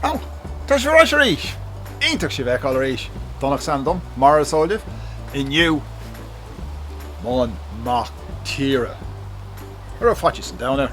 Ó! Tá sibh arais arís! Iontach sibh a fheiceáil arís! Donncha is ainm dom, mar is eol libh. Inniu, An Mac Tíre a raibh faitíos an domhain air!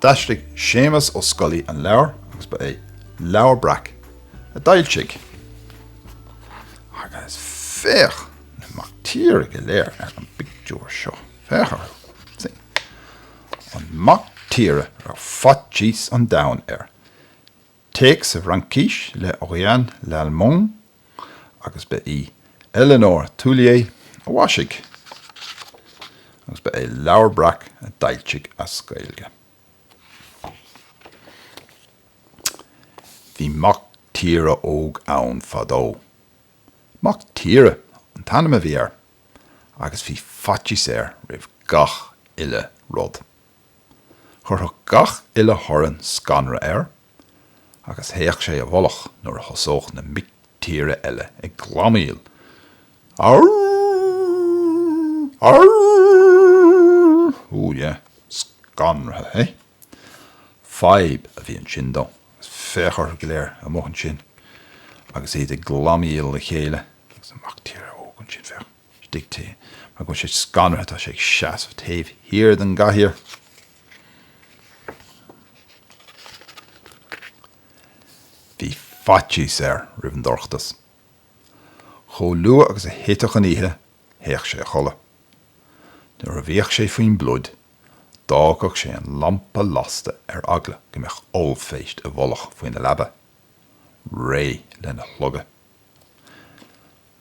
D'aistrigh Séamus Ó Scolaí an leabhar agus ba é Leabhar Breac a d'fhoilsigh. Agus féach na mic tíre go léir ar an bpictiúr seo. Féach orthu sin. An mac tíre a raibh faitíos an domhain air. Téacs sa Fhraincis le Orianne Lallemand agus ba í Éléonore Thuillier a mhaisigh agus ba é Leabhar Breac a d'fhoilsigh as Gaeilge. Bhí mac tíre óg ann fadó. Mac Tíre an t-ainm a bhí air agus bhí faitíos air roimh gach uile rud. Chuirfeadh gach uile thorann scanradh air agus théadh sé i bhfolach nuair a thosódh na mic tíre eile ag glamaíl, Arrrrrrrrrrrrrrrrr! Ooh yeah, scanraithe, hey? Fadhb a bhí ansin dó, agus féach orthu go léir amuigh ansin agus iad ag glamaíl le chéile, agus an mac tíre óg ansin, féach. Díreach mar go bhfuil sé scanraithe, tá sé ag seasamh taobh thiar den gcathaoir. Bhí faitíos air roimh an dorchadas. Chomh luath agus a thitfeadh an oíche, théadh sé a chodladh. Nuair a bhíodh sé faoin bpluid, d'fhágadh sé an lampa lasta ar eagla go mbeadh ollphéist i bhfolach faoina leaba, réidh lena shlogadh.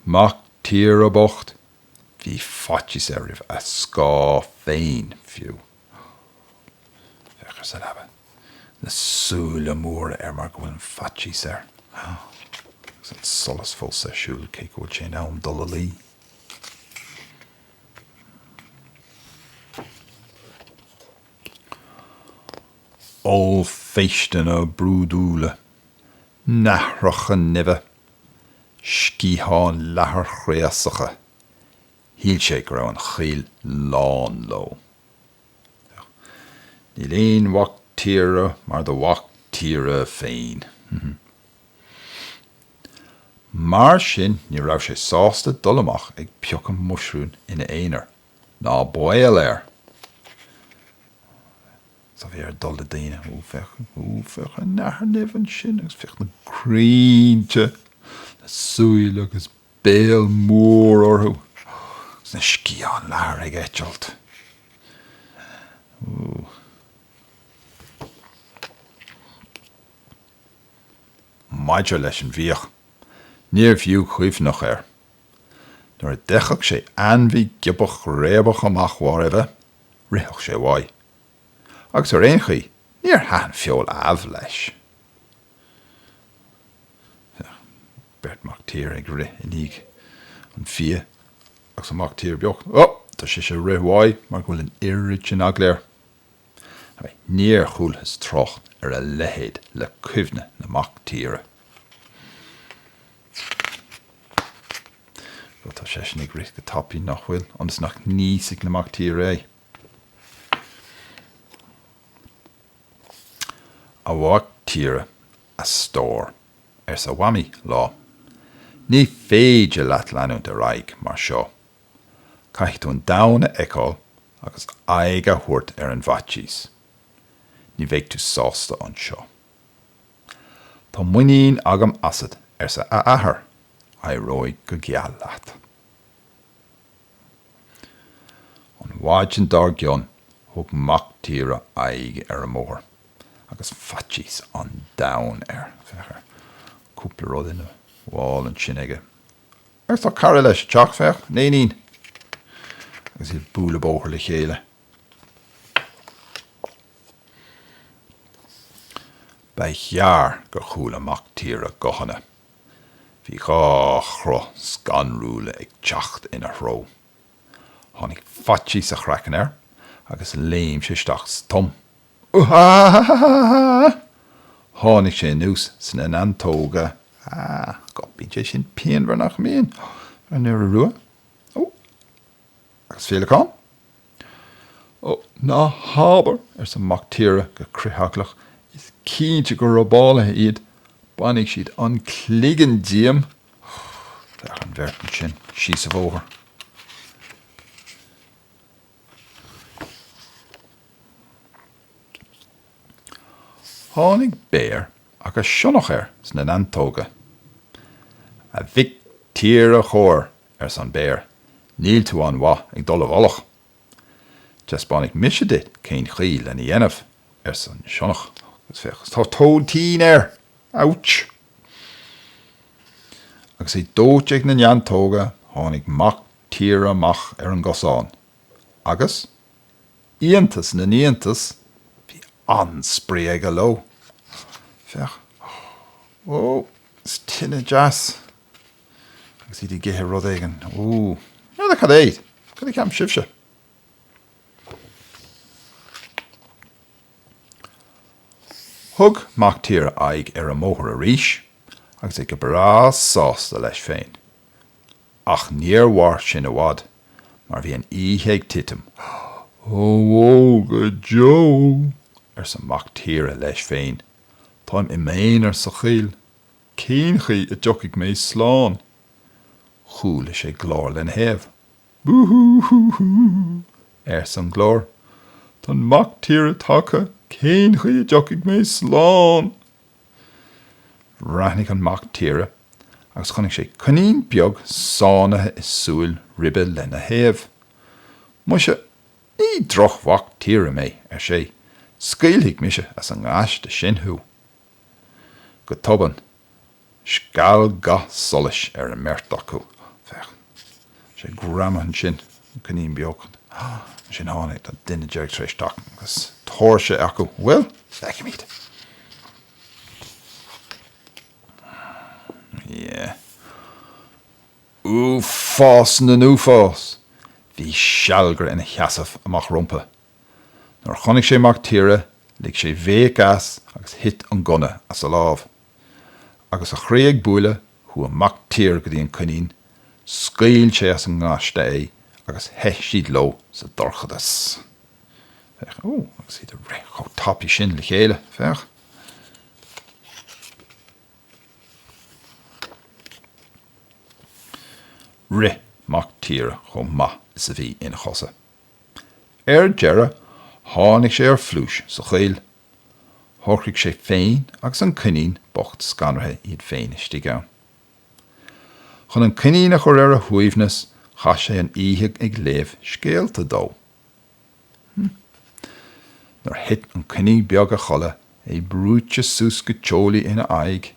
Mac tíre bocht! Bhí faitíos air roimh a scáth féin, fiú. Féach air sa leaba. Na súile móra air mar go bhfuil an faitíos air. Agus an solas fós ar siúl, cé go bhfuil sé in am dul a luí. Ollphéisteanna brúidiúla. Nathracha nimhe. Sciatháin leathair chraosacha, shíl sé go raibh an choill lán leo. Níl aon mhac tíre mar do mhac tíre féin. Mar sin ní raibh sé sásta dul amach ag piocadh muisiriún ina aonar, ná baol air! Sea, bhí air dul le daoine. Ó, féach, ó, féach an nathair nimh ansin agus féach na crainnte le súile agus béal mór orthu agus na sciatháin leathair ag eitilt. Sea. Maidir leis an bhfiach, níorbh fhiú cuimhneach air. Nuair a d'fheicfeadh sé ainmhí giobach réabach amach mhairbhe, Ritheadh sé uaidh. Agus ar aon chaoi, níor thaitin feoil amh leis. Féach, beirt mhac tíre ag rith i ndiaidh an fia agus an mac tíre beag, ó! tá seisean ag rith uaidh mar go bhfuil an oiread sin eagla air. Hei, níor chualathas trácht ar a leithéid le cuimhne na mac tíre. Bhuel, tá seisean ag rith go tapaidh, nach bhfuil, ionas nach n-íosfaidh na mac tíre é. A mhac tíre, a stór, arsa a Mhamaí lá, ní féidir leat leanúint ar aghaidh mar seo. Caithfidh tú an domhan a fheiceáil agus aghaidh a thabhairt ar an bhfaitíos. Ní bheidh tú sásta anseo. Tá muinín agam asat, arsa a athair, éireoidh go geal leat. An mhaidin dár gcionn thug mac tíre aghaidh ar an mbóthar agus faitíos an domhain air. Féach ar cúpla rud ina mhála ansin aige. Agus tá cara leis ag teacht, féach, an éinín, agus iad ag bualadh bóthair le chéile. Ba ghearr gur chuala Mactíre guthanna. Bhí dhá chruth scanrúla ag teacht ina threo. Tháinig faitíos a chraicinn air agus léim sé isteach sa tom. Uahahahahaha! Tháinig sé anuas sna neantóga. Aah, bíonn sé sin pianmhar, nach mbíonn? ar an iora rua. Ó! Agus féileacán? Ó, ná habair, arsa an mac tíre go critheaglach, is cinnte gur robálaithe iad, bainfidh siad an cloigeann díom! Féach an bheirt ansin síos an bóthar. Tháinig béar agus sionnach air sna neantóga. A mhic tíre chóir, arsa an béar, níl tú an-mhaith ag dul i bhfolach. Taispeánfaidh mise duit cén chaoi lena dhéanamh, arsa an sionnach, agus féach, tá aiteann air! Ouch! Agus é dóite ag na neantóga, tháinig mac tíre amach ar an gcosán agus, iontas na n-iontas, bhí an-spraoi aige leo. Féach, oh, oh, is tá an-deas! agus iad ag ithe rud éigin. Úúú. N'fheadar cad é! Cad a cheapann sibhse? Thug Mactíre aghaidh ar an mbóthar arís agus é go breá sásta leis féin. Ach níor mhair sin i bhfad mar bhí an oíche ag titim. Ó bhó go deo! arsa Mactíre leis féin, táim i m'aonar sa choill. Cén chaoi a dtiocfaidh mé slán? Chuala sé glór lena thaobh. Bú hú hú hú! arsa an glór. Tá an mac tíre tagtha, cén chaoi a dtiocfaidh mé slán? Bhreathnaigh an mac tíre agus chonaic sé coinín beag sáinnithe i súil ribe lena thaobh. Muise, ní droch-mhac tíre mé, ar sé, scaoilfidh mise as an ngaiste sin thú. Go tobann, scal ga solais ar an mbeirt acu. Féach, sé greamaithe ansin, an coinín beag. Ansin tháinig, tá duine éigin tar éis teacht agus tóirse acu. Bhuel, feicfimid. Yeah. Uafás na n-uafás! Bhí sealgaire ina sheasamh amach rompu. Nuair a chonaic sé Mac Tíre, lig sé béic as agus thit an gunna as a lámh. Agus a chroí ag bualadh, chuaigh Mac Tíre go dtí an coinín, scaoil sé as an ngaiste é agus theith siad leo sa dorchadas. Féach, ó, agus iad ag rith chomh tapaidh sin le chéile, féach. Rith Mac Tíre chomh maith is a bhí ina chosa. Ar deireadh, tháinig sé ar phluais sa choill. Shocraigh sé féin agus an coinín bocht scanraithe iad féin istigh ann. Chun an coinín a chur ar a shuaimhneas, chaith sé an oíche ag léamh scéalta dó. Hm. Nuair a thit an coinín beag a chodladh, é brúite suas go teolaí ina aghaidh,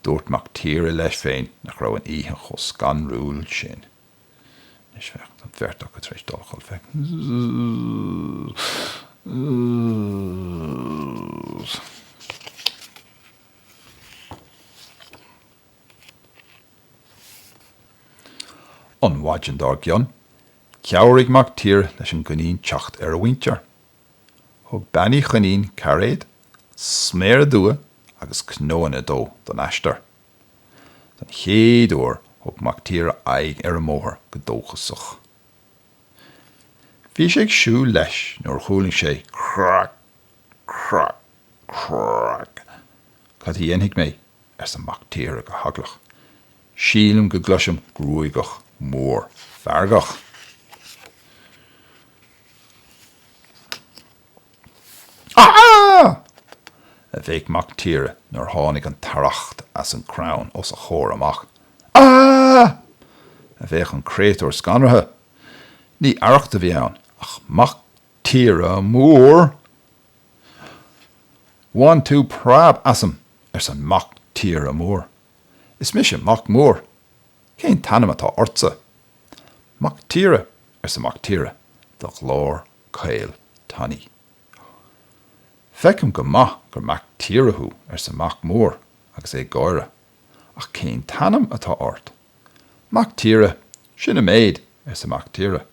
dúirt Mactíre leis féin nach raibh an oíche chomh scanrúil sin. Anois bheadh an bheirt acu tar éis dul chun feicthe. An mhaidin dár gcionn, chabhraigh Mac Tíre leis an gCoinín teacht ar a mhuintir. Thug Bean Uí Choinín cairéad, sméara dubha agus cnóanna dó don aistear. Don chéad uair thug Mactíre aghaidh ar an mbóthar go dóchasach. Bhí sé ag siúl leis nuair a chuala sé crac, crac, crac. Cad a dhéanfaidh mé? arsa Mactíre go heaglach. Sílim go gcloisim gruagach mór feargach. Aha! a bhéic Mac Tíre nuair a tháinig an t-arracht as an crann os a chomhair amach. Aha! a bhéic an créatúr scanraithe. Ní arracht a bhí ann ach Mac Tíre Mór! Bhain tú preab asam! arsa Mac Tíre Mór. Is mise Mac Mór. Cén t-ainm atá ortsa? 'Mactíre! arsa Mactíre de ghlór caol tanaí. 'Feicim go maith gur Mactíre thú, arsa Mac Mór agus é ag gáire, 'ach cén t-ainm atá ort? 'Mactíre, sin an méid, arsa Mactíre.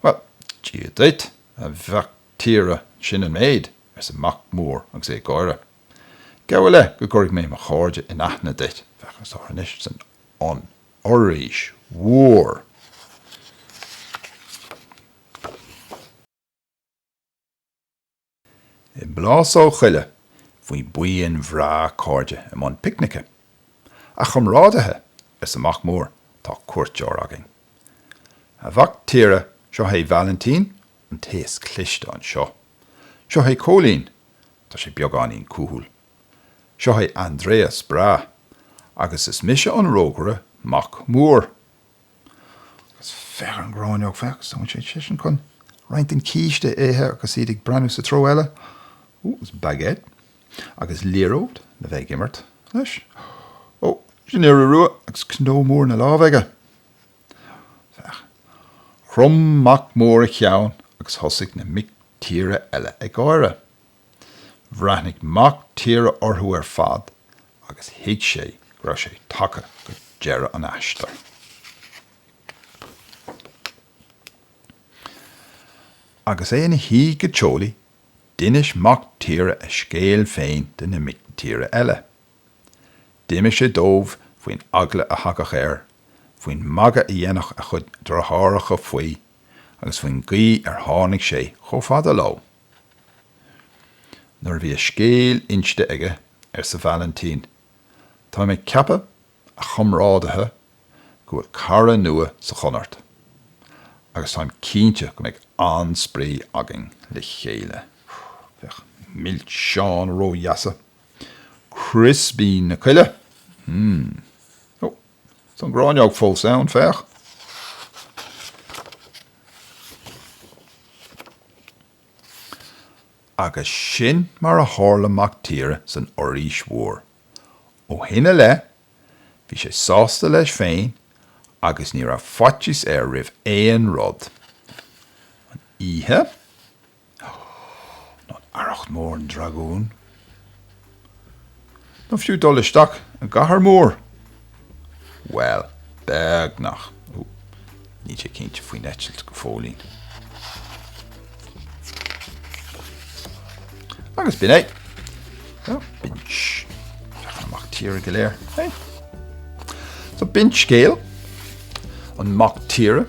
'Bhuel, Dia duit, a Mhactíre, sin an méid, arsa Mac Mór agus é ag gáire. 'Gabh i leith go gcuirfidh mé mo chairde in aithne duit, féach orthu anois san fhoraois mhór. I bplásóg choille bhí buíon bhreá cairde i mbun picnice. A chomrádaithe, arsa Mac Mór, tá cuairteoir againn. A mhac tíre, seo é Vailintín, an té is cliste anseo. Seo é Cóilín, tá sé beagáinín cúthail. Seo é Andreas breá, agus is mise an rógaire Mac Mór. Agus féach ar an ngráinneog, féach, is dóigh seisean chun roinnt den chíste a ithe agus iad ag breathnú sa treo eile. Ó, agus baguette, agus liathróid le bheith ag imirt leis. Ó, sin iora rua, agus cnó mór ina lámh aige. Féach. Chrom Mac Mór a cheann agus thosaigh na mic tíre eile ag gáire. Bhreathnaigh mac tíre orthu ar fad agus thuig sé go raibh sé tagtha go deireadh an aistir. Agus é ina shuí go teolaí, d'inis mac tíre a scéal féin do na mic tíre eile. D'inis sé dóibh faoin eagla a thagadh air, faoin magadh a dhéanadh a chuid deartháireacha faoi agus faoin gcaoi ar tháinig sé chomh fada leo. Nuair a bhí a scéal inste aige, arsa Vailintín, Táim ag ceapadh, a chomrádaithe, go bhfuil cara nua sa Chonairt, agus táim cinnte go mbeidh an-spraoi againn le chéile. Beidh milseáin ródheasa. Crispín na coille! Hmm. Oh. Tá an ghráinneog fós ann, féach. Agus sin mar a tharla Mac Tíre san Fhoraois Mhór. Ó shin i leith, bhí sé sásta leis féin agus ní raibh faitíos air roimh aon rud. An oíche. nó arracht mór an dragúin, nó fiú dul isteach i gcathair mhór, bhuel, beagnach, níl sé cinnte faoin eitilt go fóillín. Agus b'in an mac tíre go léir. So, b'in scéal an mac tíre.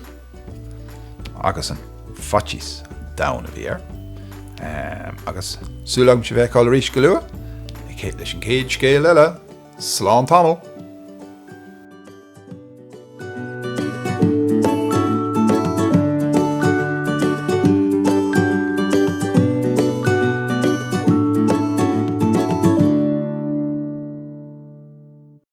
agus an faitíos domhain a bhí air. Agus súil agam sibh a fheiceáil arís go luath, leis an chéad scéal eile. Slán tamall!